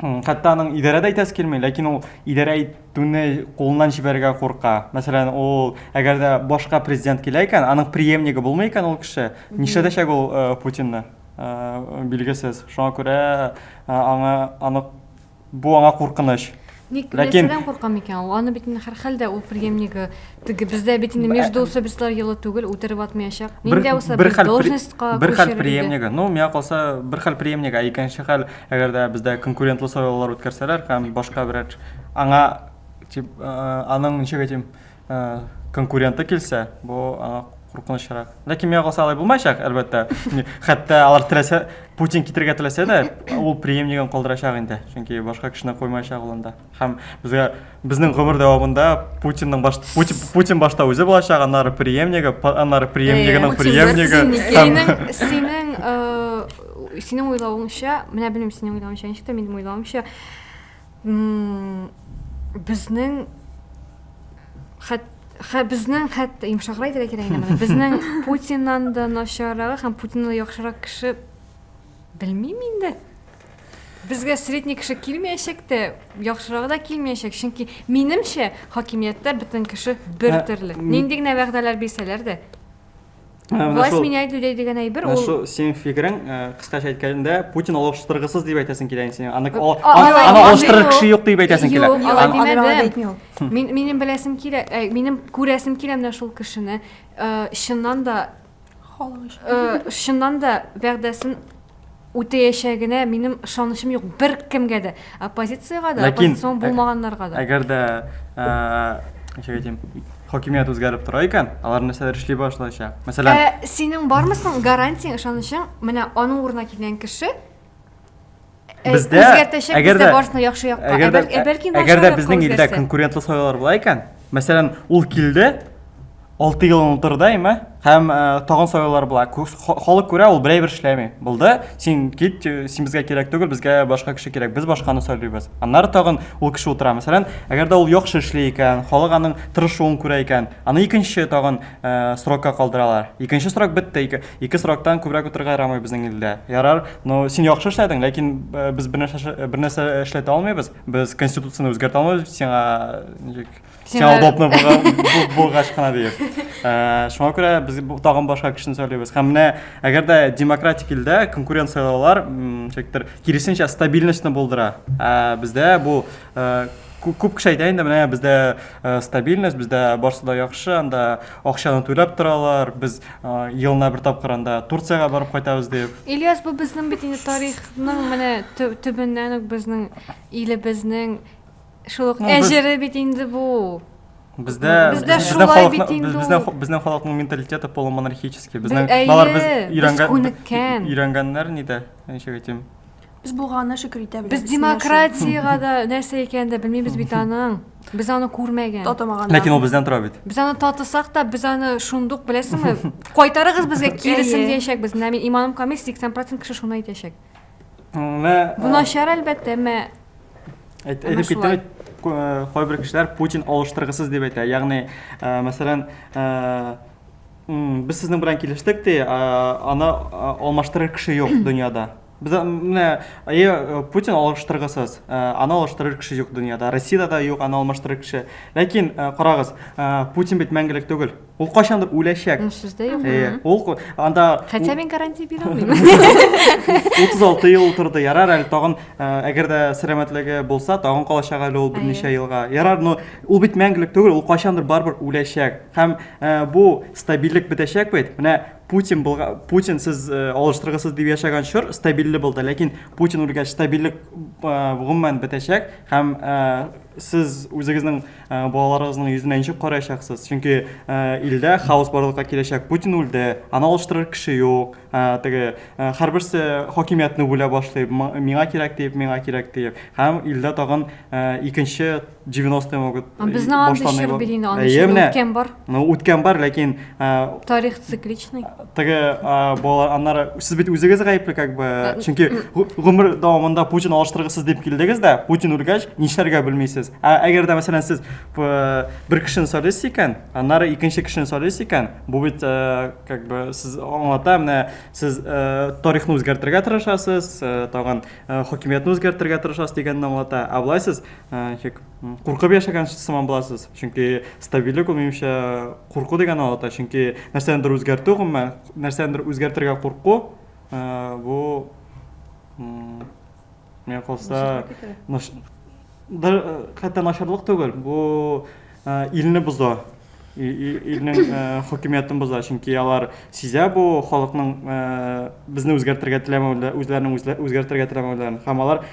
хәтта аның идарә дә итәсе килми, ләкин ул идарә итүне кулыннан җибәрергә курка. Мәсәлән, ул әгәр дә башка президент килә икән, аның преемнигы булмый икән ул кеше, нишләтәчәк ул э, Путинны? Э, билгесез. Шуңа күрә э, аңа аны бу аңа куркыныч. Ник Ләкин... нәрсәдән курка микән ул? Аны бит һәрхәлдә ул преемнигы теге бездә бит инде между особистылар елы түгел, үтереп атмаячак. Нинди булса бер должностька бер хәл преемнигы. Ну, миңа калса бер хәл преемнигы, ә икенче хәл, әгәр дә бездә конкурентлы сайлаулар үткәрсәләр һәм башка берәр аңа тип аның ничек әйтим, конкуренты килсә, бу аңа куркынычрак. Ләкин миңа калса алай булмаячак, әлбәттә. Хәтта алар теләсә, Путин китергә теләсә дә, ул преемнигын калдырачак инде. Чөнки башка кешене куймаячак ул анда. Һәм безгә безнең гомер дәвамында Путинның баш Путин, Путин башта үзе булачак, аннары преемнигы, аннары преемнигының преемнигы. Синең синең синең уйлавыңча, менә белмим синең уйлавыңча, ничек тә минем уйлавымча, Безнең хәт Хә, безнең хәтта йомшаграк әйтергә кирәк инде моны. Безнең Путиннан да начаррагы һәм Путиннан да яхшырак кеше белмим инде. Безгә средний кеше килмәячәк тә, яхшырагы да килмәячәк, чөнки минемчә хакимияттә бөтен кеше бер төрле. Нинди генә вәгъдәләр бирсәләр дә, Власть шул, меняет людей дигән әйбер ул. Шул синең фикерең, кыскача әйткәндә, Путин алыштыргысыз дип әйтәсең килә инде синең. Аны аны алыштырыр кеше юк дип әйтәсең килә. Юк, Мин минем беләсем килә, минем күрәсем килә менә шул кешене. Чыннан да халык өчен. Чыннан да вәгъдәсен үтәячәгенә минем ышанычым юк беркемгә дә, оппозициягә дә, оппозицион булмаганнарга да. Әгәр дә, ничек әйтим, хакимият үзгәреп тора икән, алар нәрсәләр эшли башлаячак? Мәсәлән, ә синең бармы соң гарантияң, ышанычың, менә аның урынына килгән кеше бездә үзгәртәчәк, бездә барсын яхшы якка, ә бәлки начар якка үзгәрсә. Әгәр дә безнең илдә конкурентлы сайлаулар була икән, Мәсәлән, ул килде, 6 елын утырды, әйме? Һәм э, тагын сайлаулар була. Халык күрә, ул берәй бер эшләми. Булды, син кит, э, син безгә кирәк түгел, безгә башка кеше кирәк, без башканы сайлыйбыз. Аннары тагын ул кеше утыра. Мәсәлән, әгәр дә ул яхшы эшли икән, халык аның тырышуын күрә икән, аны икенче тагын э, срокка калдыралар. Икенче срок бетте, ике, ике сроктан күбрәк утырырга ярамый безнең илдә. Ярар, но син яхшы эшләдең, ләкин э, без бернәрсә, бернәрсә эшләтә алмыйбыз. Без конституцияне үзгәртә алмыйбыз, сиңа ничек сиңа удобно булгач кына диеп. Э, шуңа күрә без тагын башка кешене сайлыйбыз. Һәм менә әгәр дә демократик илдә конкурент сайлаулар ничектер киресенчә стабильностьны булдыра. Ә бездә бу э, күп кеше әйтә инде менә бездә э, стабильность, бездә барсы да яхшы, анда Акчаны түләп торалар, без елына бер тапкыр анда Турциягә барып кайтабыз дип. Ильяс, бу безнең бит инде тарихның менә төбеннән үк безнең илебезнең шул ук әҗере бит инде бу. Бездә бездә шулай бит инде. Бездә безнең халыкның менталитеты полумонархический. Безнең алар без өйрәнгән өйрәнгәннәр нидә, ничек әйтим? Без булганына шөкер итә беләбез. Без демократиягә дә нәрсә икәнен дә белмибез бит аның. Без аны күрмәгән. Татымаган. Ләкин ул бездән тора бит. Без аны татысак та, без аны шундук беләсеңме? Кайтарыгыз безгә киресен диячәкбез. Менә мин иманым камил, 80% кеше шуны әйтәчәк. Менә Бу начар әлбәттә, әмма Әйтеп киттем, кайбер кешеләр Путин алыштыргысыз дип әйтә. Ягъни, мәсәлән, без сезнең белән килештек ди, аны алмаштырыр кеше юк дөньяда. Без менә әйе э, Путин алыштыргысыз. Э, аны алыштырыр кеше юк дөньяда. Россиядә дә юк аны алмаштырыр кеше. Ләкин э, карагыз, Путин бит мәңгелек түгел. Ул кайчандыр үләчәк. Ну, сүз дә юк. Әйе, ул анда Хәтта мин гарантия бирә алмыйм. 36 ел утырды. Ярар әле тагын, әгәр дә сәламәтлеге булса, тагын калачак әле ул берничә елга. Ярар, но ул бит мәңгелек түгел, ул кайчандыр барыбер үләчәк. Һәм бу стабильлек бетәчәк бит. Менә Путин булга, Путин сез э, алыштыргысыз дип яшәгән чор стабильле булды, ләкин Путин үлгәч стабильлек э, гомумән бетәчәк һәм э, сез үзегезнең э, балаларыгызның йөзенә ничек караячаксыз? Чөнки э, илдә хаос барлыкка киләчәк. Путин үлде, аны алыштырыр кеше юк. Э, теге э, һәрберсе хакимиятне бүлә башлый. М- Миңа кирәк диеп, миңа кирәк диеп. Һәм илдә тагын э, икенче 90 могут безнең анда чор бирин аны үткән бар ну үткән бар ләкин тарих цикличный теге балалар аннары сез бит үзегез гаепле как бы чөнки гомер дәвамында путин алыштыргысыз дип килдегез дә путин үлгәч нишләргә белмисез ә әгәр дә мәсәлән сез бер кешене сайлыйсыз икән аннары икенче кешене сайлыйсыз икән бу бит как бы сез аңлата менә сез тарихны үзгәртергә тырышасыз тагын Э, хакимиятне үзгәртергә тырышасыз дигәнне аңлата ә былай сез э, куркып яшәгән сыман буласыз чөнки стабильлек ул минемчә курку дигән аңлата чөнки нәрсәнедер үзгәртү гомумән нәрсәнедер үзгәртергә курку э, бу миңа калса хәтта начарлык түгел бу илне боза, илнең хакимиятен боза, чөнки алар сизә бу халыкның безне үзгәртергә теләмәвендә, үзләренең үзгәртергә теләмәвендә, һәм алар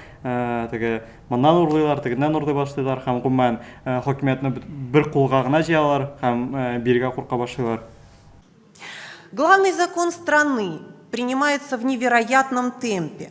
теге моннан урлыйлар, тегеннән урлый башлыйлар һәм гомумән хакимиятне бер кулга гына җыялар һәм биргә курка башлыйлар. Главный закон страны принимается в невероятном темпе.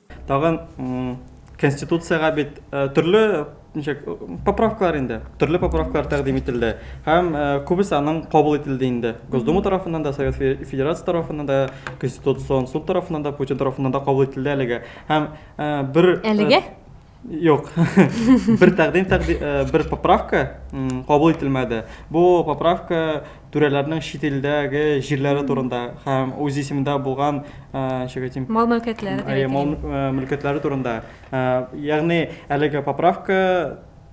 Тагын Конституциягә бит төрле ничек поправкалар инде, төрле поправкалар тәкъдим ителде. Һәм күбесе аның кабул ителде инде. Госдума тарафыннан да, Совет Федерация тарафыннан да, Конституцион суд тарафыннан да, Путин тарафыннан да кабул ителде әлегә. Һәм бер Әлегә? Юк. Бер тәкъдим тәкъдим э, бер поправка м, кабул ителмәде. Бу поправка түрәләрнең чит илдәге җирләре турында һәм үз исемендә булган э, ничек әйтим, Мал мөлкәтләре дип Әйе, мал әйтелгән. мө- э, мөлкәтләре турында. Э, Ягъни әлеге поправка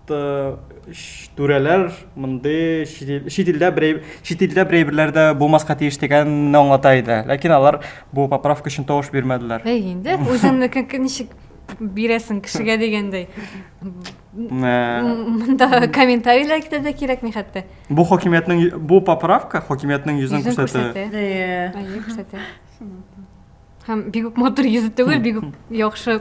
т- ш- түрәләр мондый чит ил- чит илдә бер әйб- чит илдә бер әйберләр дә булмаска тиеш дигәнне аңлата иде. Ләкин алар бу поправка өчен тавыш бирмәделәр. Әй инде, үзеңнеке ничек бирәсең кешегә дигәндәй мында комментарийлар китә дә кирәкми хәтта бу хакимиятнең бу поправка хакимиятнең йөзен күрсәтә күрсәтә һәм бик үк матур йөзе түгел бик үк яхшы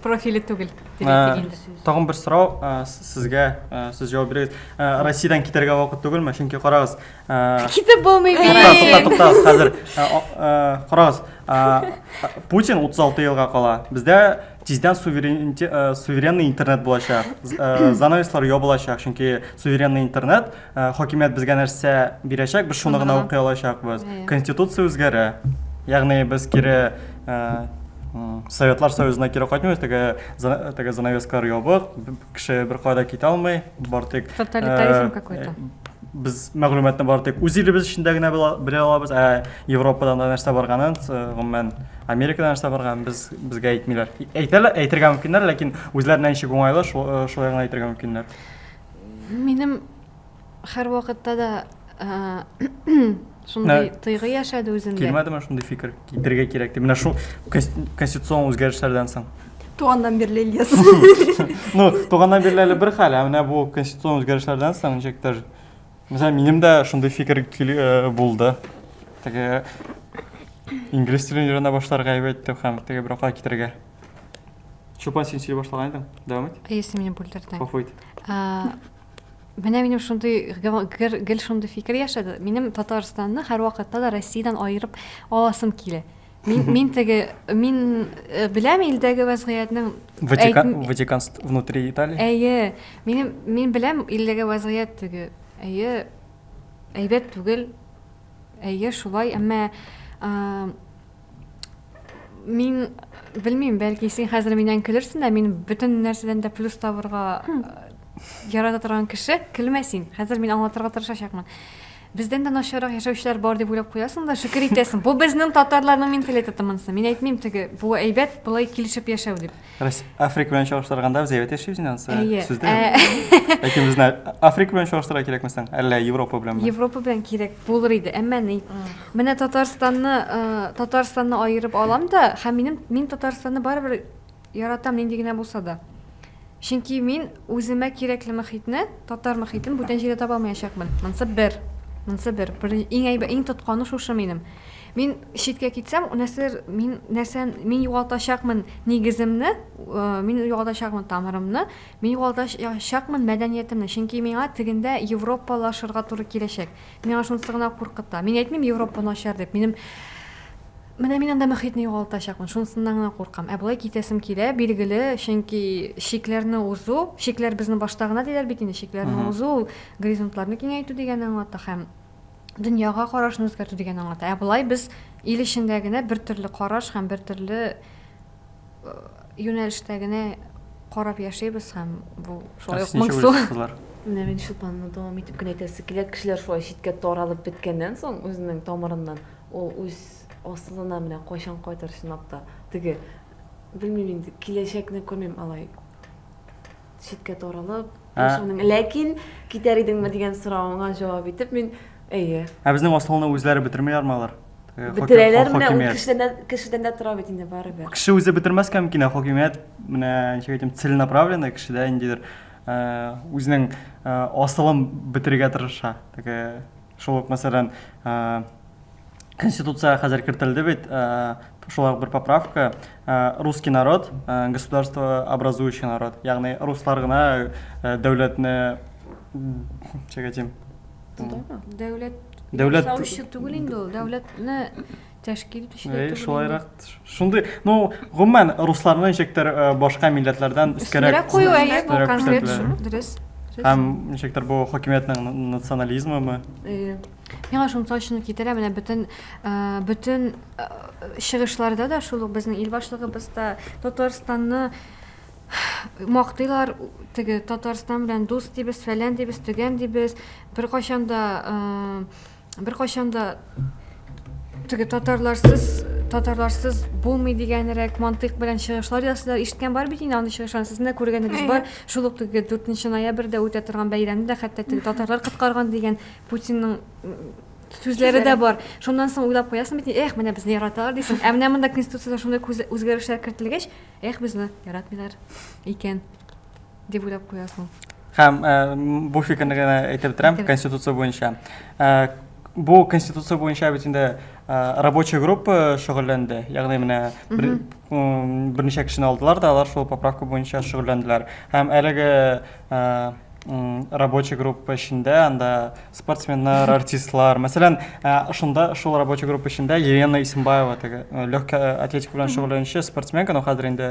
профиле түгел тагын бер сорау сезгә сез җавап бирегез россиядән китәргә вакыт түгелме чөнки карагыз Китеп булмый бит. Тукта, тукта, тукта, хәзер. Карагыз, Путин 36 елга кала. Бездә тиздән суверенный интернет булачак. Занавеслар ябылачак, чөнки суверенный интернет хакимият безгә нәрсә бирәчәк, без шуны гына укый алачакбыз. Конституция үзгәрә. Ягъни без кире Советлар Союзына кире кайтмыйбыз, теге теге занавескалар ябык, кеше беркая да китә алмый, бар тик тоталитаризм какой-то. Без мәгълүматны бары тик үз илебез эчендә генә белә алабыз, ә Европадан да нәрсә барганын, гомумән, Америкадан нәрсә барганын без безгә әйтмиләр. Әйтәләр, әйтергә мөмкиннәр, ләкин үзләренә ничек уңайлы, шулай гына әйтергә мөмкиннәр. Минем һәрвакытта да Шундый Ә, тойгы яшәде үзендә. Килмәде мен шундый фикер китерергә кирәк дип. Менә шул конституцион үзгәрешләрдән соң. Туганнан бирле Ильяс. ну, туганнан бирле әле бер хәл, ә менә бу конституцион үзгәрешләрдән соң ничектер. Менә минем дә шундый фикер э, булды. Теге инглиз телен өйрәнә башларга әйбәт әйтте һәм теге бер акла китерергә. Чупан син сөйли башлаган идең. Дәвам ит. Если меня будет По фойт. Менә минем шундый гел шундый фикер яшәде. Минем Татарстанны һәрвакытта да Россиядән аерып аласым килә. Мин мин теге мин э, беләм илдәге вазгыятьнең Ватикан Ватикан внутри Италии. Әйе. Минем мин беләм илдәге вазгыять теге. Әйе. Әйбәт түгел. Әйе, шулай, әмма Мин белмим, бәлки син хәзер миннән көлерсең дә, мин бөтен нәрсәдән дә плюс табырга э, ярата торган кеше, көлмә син. Хәзер мин аңлатырга тырышачакмын. Бездән дә начаррак яшәүчеләр бар дип уйлап куясың да, шөкер итәсең. Бу безнең татарларның менталитеты монысы. Мин әйтмим теге, бу әйбәт, болай килешеп яшәү дип. Рус Африка белән чагыштырганда без әйбәт яшибез инде ансы. Әйе. Сездә. Ләкин безне Африка белән чагыштыра кирәкме соң? Әллә Европа белән? Европа белән кирәк булыр иде, әмма ни. Менә Татарстанны, э, Татарстанны аерып алам да, һәм минем мин Татарстанны барыбер яратам нинди генә булса да. Чөнки мин үземә кирәкле мөхитне, татар мөхитен бүтән җирдә таба алмаячакмын. Монсы бер. Монсы бер. Бер иң әйбәт, иң тотканы шушы минем. Мин читкә китсәм, нәрсәдер мин нәрсә мин югалтачакмын нигеземне, мин югалтачакмын тамырымны, мин югалтачакмын мәдәниятемне, чөнки миңа тегендә европалашырга туры киләчәк. Миңа шунысы гына куркыта. Мин әйтмим Европа начар дип. Минем менә мин анда мөхитне югалтачакмын, шунысыннан гына куркам. Ә болай китәсем килә, билгеле, чөнки чикләрне узу, чикләр безне башта гына диләр бит инде, чикләрне узу ул горизонтларны киңәйтү дигәнне аңлата һәм дөньяга карашны үзгәртү дигән аңлата. Ә болай без ил эчендә генә бер төрле караш һәм бер төрле э, юнәлештә генә карап яшибез һәм бу шулай ук моңсу. Менә мин шул планны дәвам итеп кенә әйтәсе килә, кешеләр шулай читкә таралып беткәннән соң үзенең тамырыннан ул үз асылына менә кайчан кайтыр чынлап та. Теге белмим инде, киләчәкне күрмим алай. Читкә таралып, яшәүнең. Ләкин китәр идеңме дигән соравыңа җавап итеп, мин әйе. Ә безнең асылны үзләре бетерми ярмалар. Э, Бетерәләр менә ул кешедән кешедән дә тора бит инде барыбер. Кеше үзе бетермәскә мөмкин, ә хакимият менә ничек әйтим, целенаправленный кешедә ниндидер э, үзенең э, асылын бетерергә тырыша. Теге Шул ук, мәсәлән, Конституция хәзер кертелде бит, шулай ук бер поправка, русский народ, государство образующий народ. Ягъни руслар гына дәүләтне чәгәтим. Дәүләт Дәүләт түгел инде ул, дәүләтне тәшкил итүчеләр түгел. Шулайрак. Шундый, ну, гомумән русларны ничектер э, башка милләтләрдән өскәрәк. Өстенрәк кую әйе, бу конкрет шул, дөрес. Һәм ничектер бу хакимиятнең национализмымы? Э, миңа шуның точно китерә, менә бөтен э, бөтен чыгышларда да шул ук безнең ил башлыгыбыз да Татарстанны мактыйлар теге татарстан белән дус дибез фәлән дибез төгән дибез беркайчан да э, Беркайчан да теге татарларсыз татарларсыз булмый дигәнрәк мантыйк белән чыгышлар ясыйлар. Ишеткән бар бит инде андый чыгышларны. Сезнең дә күргәнегез бар. Шул ук теге 4 ноябрьдә үтә торган бәйрәмне дә хәтта теге татарлар коткарган дигән Путинның сүзләре дә бар. Шуннан соң уйлап куясың бит, эх, менә безне яраталар дисең. Ә менә монда конституциядә шундый үзгәрешләр кертелгәч, эх, безне яратмыйлар икән. дип уйлап куясың. Һәм э, бу фикерне генә әйтеп бетерәм, конституция буенча. Э, бу конституция буенча бит инде э, рабочий группа шөгыльләнде. Ягъни менә берничә кешене алдылар да, алар шул поправка буенча шөгыльләнделәр. Һәм әлеге рабочий группа эчендә анда спортсменнар, артистлар, мәсәлән, шунда шул рабочий группа эчендә Елена Исимбаева теге легкая атлетика белән шөгыльләнүче спортсменка, но хәзер инде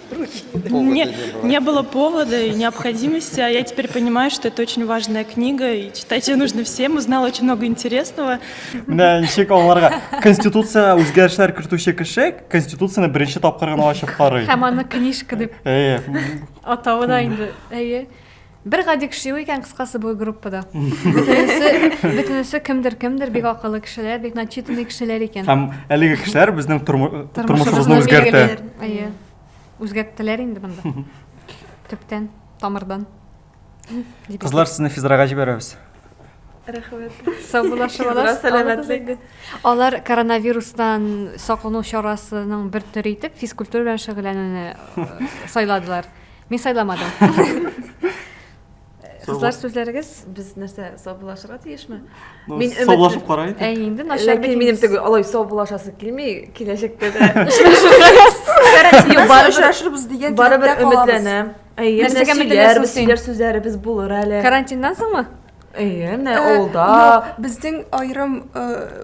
Мне не было повода и необходимости, а я теперь понимаю, что это очень важная книга, и читать ее нужно всем. Узнала очень много интересного. Менә ничек аларга конституцияне үзгәрешләр кертүче кеше конституцияне беренче тапкыр гына ачып карый. Һәм аны книжка дип. Әйе. Атавы да инде. Әйе. Бер гади кеше юк икән кыскасы бу группада. Бөтенесе, бөтенесе кемдер кемдер бик акыллы кешеләр, бик начитанный кешеләр икән. Һәм әлеге кешеләр безнең тормы- тормышыбызны үзгәртә. Әйе. Үзгәрттеләр инде монда. Төптән, тамырдан. Дип Кызлар, сезне физрага җибәрәбез. Рәхмәт. Сау була, шабалар. Физра сәламәтлек. Алар коронавирустан саклану чарасының бер төре итеп физкультура белән шөгыльләнүне э, сайладылар. Мин сайламадым. Кызлар сүзләрегез без нәрсә саубулашырга тиешме? Ну, Мин өмет- саубулашып карайык. Ә инде начар Ләкин минем теге алай саубулашасы килми, киләчәктә дә Юк, барыбер- очрашырбыз дигән барыбер теләктә калабыз. өметләнәм. Әйе, Нәрсәгә нәрсәгә өметләнәсең сөйләрбез, син? сөйләр сүзләребез булыр әле. Карантиннан соңмы? Әйе, менә Э, авылда. юк, Безнең аерым э,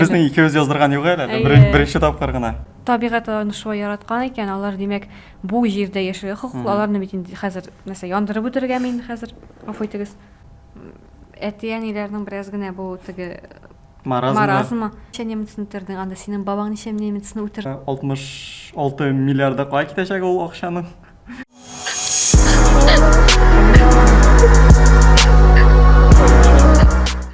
Безнең икебез яздырган юк әле, Әйе. беренче тапкыр гына. табигать аларны шулай яраткан икән, алар димәк бу җирдә яшәргә хокуклы, аларны бит инде хәзер нәрсә яндырып үтергә мин хәзер, гафу итегез. Әти-әниләрнең бераз генә бу теге Маразмы? маразмы. Ничә немецны үтердең анда, синең бабаң ничә немецны үтерде? 66 миллиарда кая китәчәк ул акчаның?